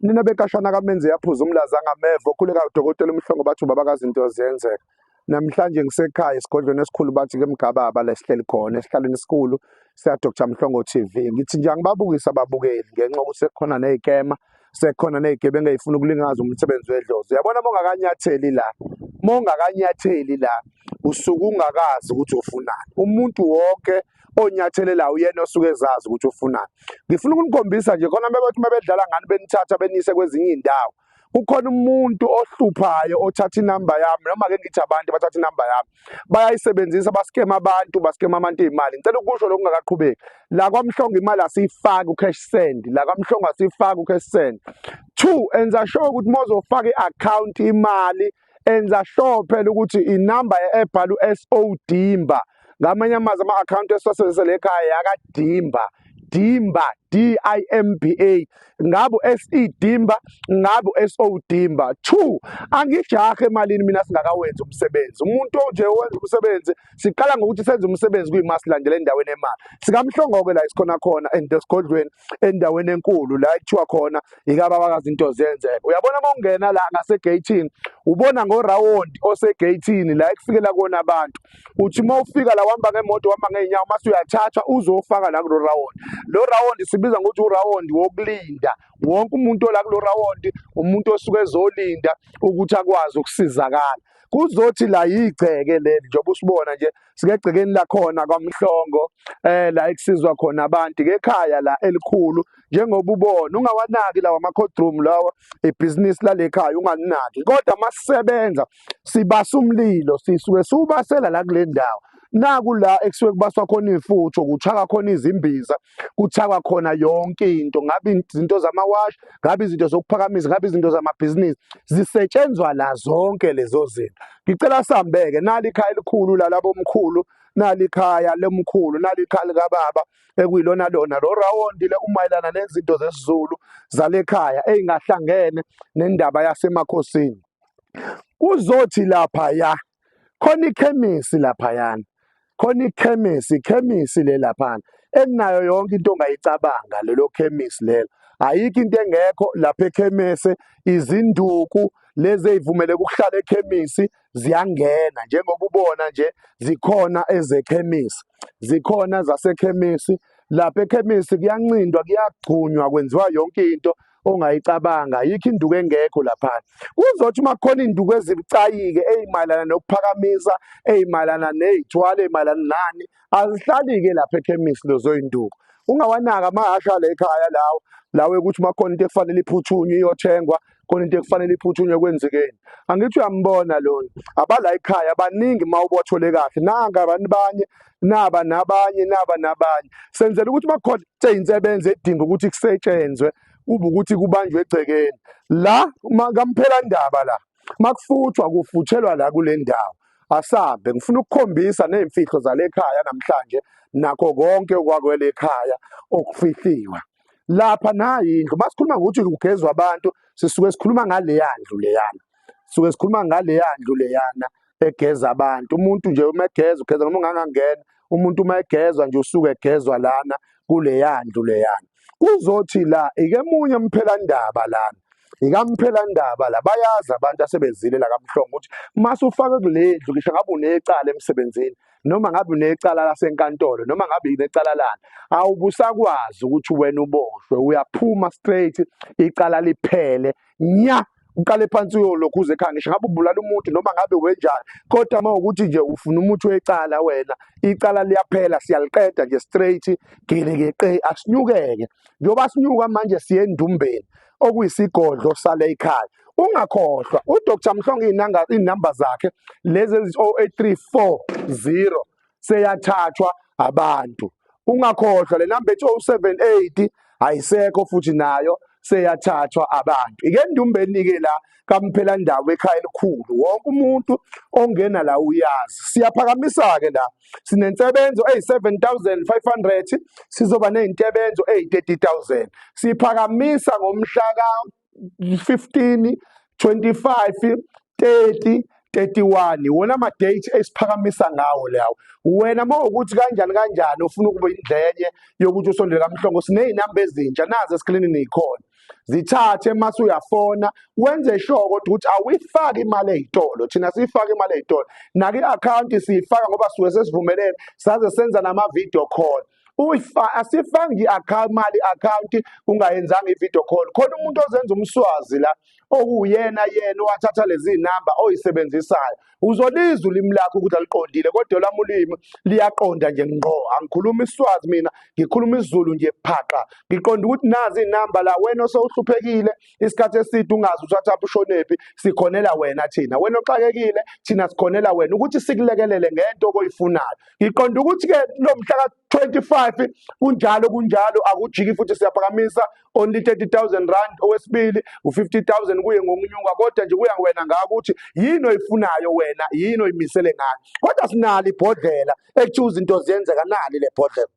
Nina bekashana kamenze yaphuza umlaza angameva okhuleka udokotela umhlongo bathi ubaba kazinto ziyenzeka. Namhlanje ngisekhaya esigodlweni esikhulu bathi ke mgababa la sihleli khona esihlalweni esikhulu siya Dr Mhlongo TV. Ngithi nje angibabukise ababukeli ngenxa yokuthi sekukhona nezikema sekhona nezigebengu ezifuna ukulingaza umsebenzi wedlozi. Uyabona mongakanyatheli la. Mongakanyatheli la usuke ungakazi ukuthi ufunani. Umuntu wonke onyathelelayo uyena osuke ezazi ukuthi ufunani ngifuna ukunikhombisa nje khona bebethi uma bedlala ngani benithatha beniyise kwezinye iy'ndawo kukhona umuntu ohluphayo othatha inamba yami noma ke ngithi abantu bathatha inamba yami bayayisebenzisa baskema abantu baskema abantu imali ngicela ukusho lokungakaqhubeki la kwamhlongo imali asiyifaki ucash send la kwamhlongo asiyifaki ucash send two enza sure ukuthi mozofaka iaccount imali enza sure phela ukuthi inamba ebhala uSO Dimba ngamanye amazwi ama account esosebenzisa lekhaya yakadimba Dimba D I M B A ngabu SE Dimba ngabu SO Dimba 2 angijahe emalini mina singakawenzi umsebenzi umuntu onje owenza umsebenzi siqala ngokuthi senze umsebenzi kuyimasilandela endaweni emali sikamhlongoke la isikhona khona and esigodlweni endaweni enkulu la kuthiwa khona ikababakazi into zenzeka uyabona uma ungena la ngasegeyithini ubona ngorawundi osegeyithini la ekufikela kona abantu uthi uma ufika la uhamba ngemoto uhamba ngey'nyawo uma suyathathwa uzofaka la kulo rawundi lo rawundi sibiza ngokuthi urawundi wokulinda wonke umuntu ola kulo rawundi umuntu osuke ezolinda ukuthi akwazi ukusizakala kuzothi la yigceke leli njengoba usibona nje sikegcekeni lakhona kwaMhlongo eh la ekusizwa khona abantu kekhaya la elikhulu njengoba ubona ungawanaki lawa ama-codroom lawa ibhizinisi lalekhaya ungalinaki kodwa masisebenza sibasa umlilo sisuke siwubasela la kule ndawo naku la ekusuke kubaswa khona iy'futho kuchaka khona izimbiza kuthakwa khona yonke into ngabe izinto zamawashi ngabe izinto zokuphakamisa ngabe izinto zamabhizinisi zisetshenzwa la zonke lezo zinto ngicela sambeke nali ikhaya elikhulu lalabo mkhulu nali ikhaya lomkhulu nali ikhaya likababa ekuyilona lona lo rawundi le umayelana nezinto zesizulu zalekhaya eyingahlangene nendaba yasemakhosini kuzothi lapha ya khona ikhemisi laphayana khona ikhemisi ikhemisi le laphana enayo yonke into ongayicabanga lelo khemisi lelo ayikho into engekho lapha ekhemese izinduku lezi ezivumele ukuhlala ekhemisi ziyangena njengoba ubona nje zikhona ezekhemisi zikhona zasekhemisi lapha ekhemisi kuyancindwa kuyagcunywa kwenziwa yonke into ongayicabanga ayikho induku engekho laphana kuzothi uma kukhona induku ezibucayike eyimayelana nokuphakamisa eyimayelana neyithwala eyimayelana nani azihlali-ke lapha ekhemisi lozoyinduku ungawanaka amahasha la ekhaya lawo lawe ukuthi uma khona into ekufanele iphuthunywe iyothengwa khona into ekufanele iphuthunywe kwenzekeni angithi uyambona lona abala ekhaya baningi uma ubothole kahle nanga abantu banye naba nabanye naba nabanye senzela ukuthi makhona insebenza edinga ukuthi kusetshenzwe kube ukuthi kubanjwe egcekeni la kamphela ndaba la makufuthwa kufutshelwa la kule ndawo asambe ngifuna ukukhombisa nezimfihlo zale khaya namhlanje nakho konke okwakwele ekhaya okufihliwa lapha nayi indlu masikhuluma ngokuthi kugezwa abantu sisuke sikhuluma ngaleya ndlu leyana sisuke sikhuluma ngaleya ndlu leyana egeza abantu umuntu nje uma egeza ugeza noma ungangangena umuntu uma egezwa nje usuke egezwa lana kuleya ndlu leyana kuzothi la ike munye umphelandaba lana ikamphelandaba la bayazi abantu asebezile la kamhlongo ukuthi mase ufake kulendlu ngisho ngabe unecala emsebenzini noma ngabe unecala lasenkantolo noma ngabe inecala lana awubusakwazi ukuthi wena uboshwe uyaphuma straight icala liphele nya uqale phansi uyolokhu uze ekhaya ngisho ngabe ubulala umuntu noma ngabe wenjani kodwa uma ukuthi nje ufuna umuthi wecala wena icala liyaphela siyaliqeda nje straight gelekeqe asinyukeke njengoba sinyuka manje siye endumbeni okuyisigodlo sale ekhaya ungakhohlwa udr mhlongo iy'namba zakhe lezi eziwu-8340 seyathathwa abantu ungakhohlwa le namba ethi 078 ayisekho futhi nayo seyathathwa abantu ike ndumbeni-ke la kamphela ndawo ekhaya elikhulu wonke umuntu ongena la uyazi siyaphakamisa-ke la sinensebenzo eyi-7500 sizoba ney'ntebenzo eyi-30000 siphakamisa ngomhla ka 15 25 30 31 wona ama date esiphakamisa ngawo lawo wena mawukuthi kanjani kanjani ufuna ukuba indlenye yokuthi usondele kamhlongo sinezinamba ezintsha nazi esklinini ikhona zithathe mase uyafona wenze sure kodwa ukuthi awuyifaki imali ezitolo thina siyifaka imali ezitolo naki account siyifaka ngoba suke sesivumelene saze senza nama video call uyifa asifangi i-account mali account ungayenzanga i-video call khona umuntu ozenza umswazi la okuwuyena yena owathatha lezi namba oyisebenzisayo uzolizwa ulimi lakho ukuthi aliqondile kodwa lami ulimi liyaqonda nje ngqo angikhulumi iswazi mina ngikhuluma isizulu nje phaqa ngiqonda ukuthi nazi inamba la wena osewuhluphekile isikhathi eside ungazi uthatha ushonephi sikhonela wena thina wena oxakekile thina sikhonela wena ukuthi sikulekelele ngento okoyifunayo ngiqonda ukuthi ke lo mhla ka 25 kunjalo kunjalo akujiki futhi siyaphakamisa only 30000 rand owesibili u50000 kuye ngokunyuka kodwa nje kuya wena ngaka ukuthi yini oyifunayo wena yini oyimisele ngayo kodwa sinali ibhodlela ekuthiwa izinto ziyenzeka nali le bhodlela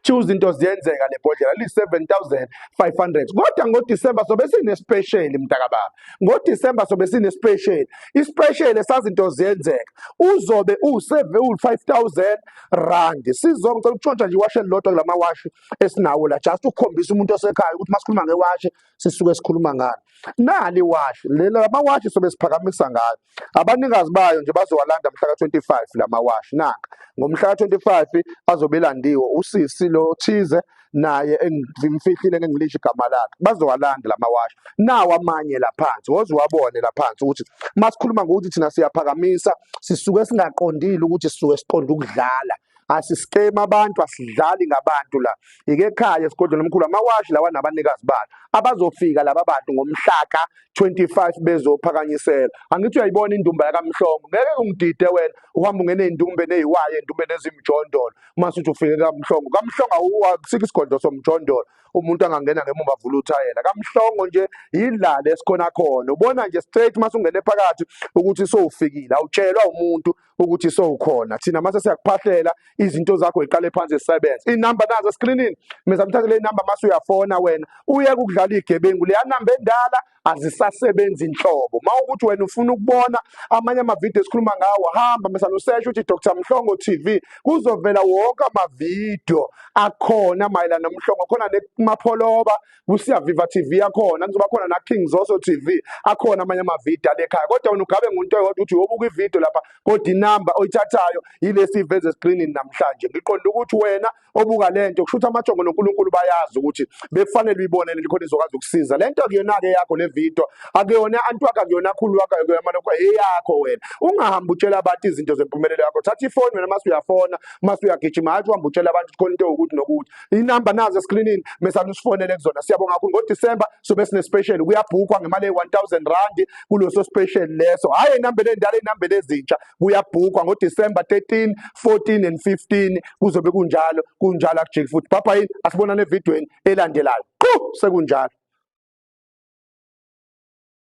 choose into ziyenzeka le bhodlela li-7500 kodwa ngodisemba sobe sinesipesheli mntakababa ngodisemba sobe sinesipesheli isipesheli esazinto ziyenzeka uzobe uwu-5000 rand sizonke ngicela ukutshontsha nje iwashe elilodwa kula mawashi esinawo la just ukukhombisa umuntu osekhaya ukuthi uma sikhuluma ngewashi sisuke sikhuluma ngalo nali iwashi lamawashi sobe siphakamisa ngalo Abanikazi bayo nje bazowalanda mhla ka-25 la mawashi naka. Ngomhla ka-25 azobe elandiwe usisi lo thize naye engimfihlile ngengilisho igama lakhe. Bazowalanda la mawashi. Nawo amanye la phansi, woze uwabone la phansi ukuthi uma sikhuluma ngokuthi thina siyaphakamisa, sisuke singaqondile ukuthi sisuke siqonde ukudlala. asisiqemi abantu asidlali ngabantu la ike ekhaya esigodlweni omkhulu amawashi lawa nabanikazi balo abazofika laba bantu ngomhlaka 25 bezophakanyisela angithi uyayibona indumba yakamhlongo ngeke ungidide wena uhamba ungene indumbe neyiwaye indumbe nezimjondolo mase uthi ufike kamhlongo kamhlongo awusikho isigodlo somjondolo umuntu angangena ngemuva avula uthayela kamhlongo nje yidlala esikhona khona ubona nje straight mase ungene phakathi ukuthi sowufikile awutshelwa umuntu ukuthi sowukhona thina mase siyakuphahlela izinto zakho iqale phansi zisebenze inamba nazo eskrinini meza mthathe le namba mase uyafona wena uye ukudlala igebengu leya namba endala azisasebenzi inhlobo mawukuthi wena ufuna ukubona amanye amavidiyo esikhuluma ngawo hamba mesa nosesha uthi Dr Mhlongo TV kuzovela wonke amavidiyo akhona mayelana nomhlongo khona nemapholoba kusiya Viva TV yakhona kuzoba khona na King Zoso TV akhona amanye amavidiyo alekhaya kodwa wena ugabe ngunto eyodwa ukuthi uyobuka ividiyo lapha kodwa inamba oyithathayo yilesi iveze screenini namhlanje ngiqonda ukuthi wena obuka lento kusho ukuthi amajongo noNkulunkulu bayazi ukuthi bekufanele uyibone lento khona izokwazi ukusiza lento kuyona ke yakho le video akuyona antu wakho akuyona khulu wakho akuyona lokho eyakho wena ungahambi utshela abantu izinto zempumelelo yakho thatha ifoni wena mase uyafona mase uyagijima hathi uhamba utshela abantu khona into ukuthi nokuthi inamba nazo eskrinini mesani usifonele kuzona siyabonga kakhulu ngodisemba sobe sinespecial kuyabhukwa ngemali eyi-1000 randi kuleso special leso hhayi ey'nambeni endala ey'nambeni ezintsha kuyabhukwa ngodisemba 13 14 and 15 kuzobe kunjalo kunjalo akujiki futhi bhabha yini asibonane evidweni elandelayo qu sekunjalo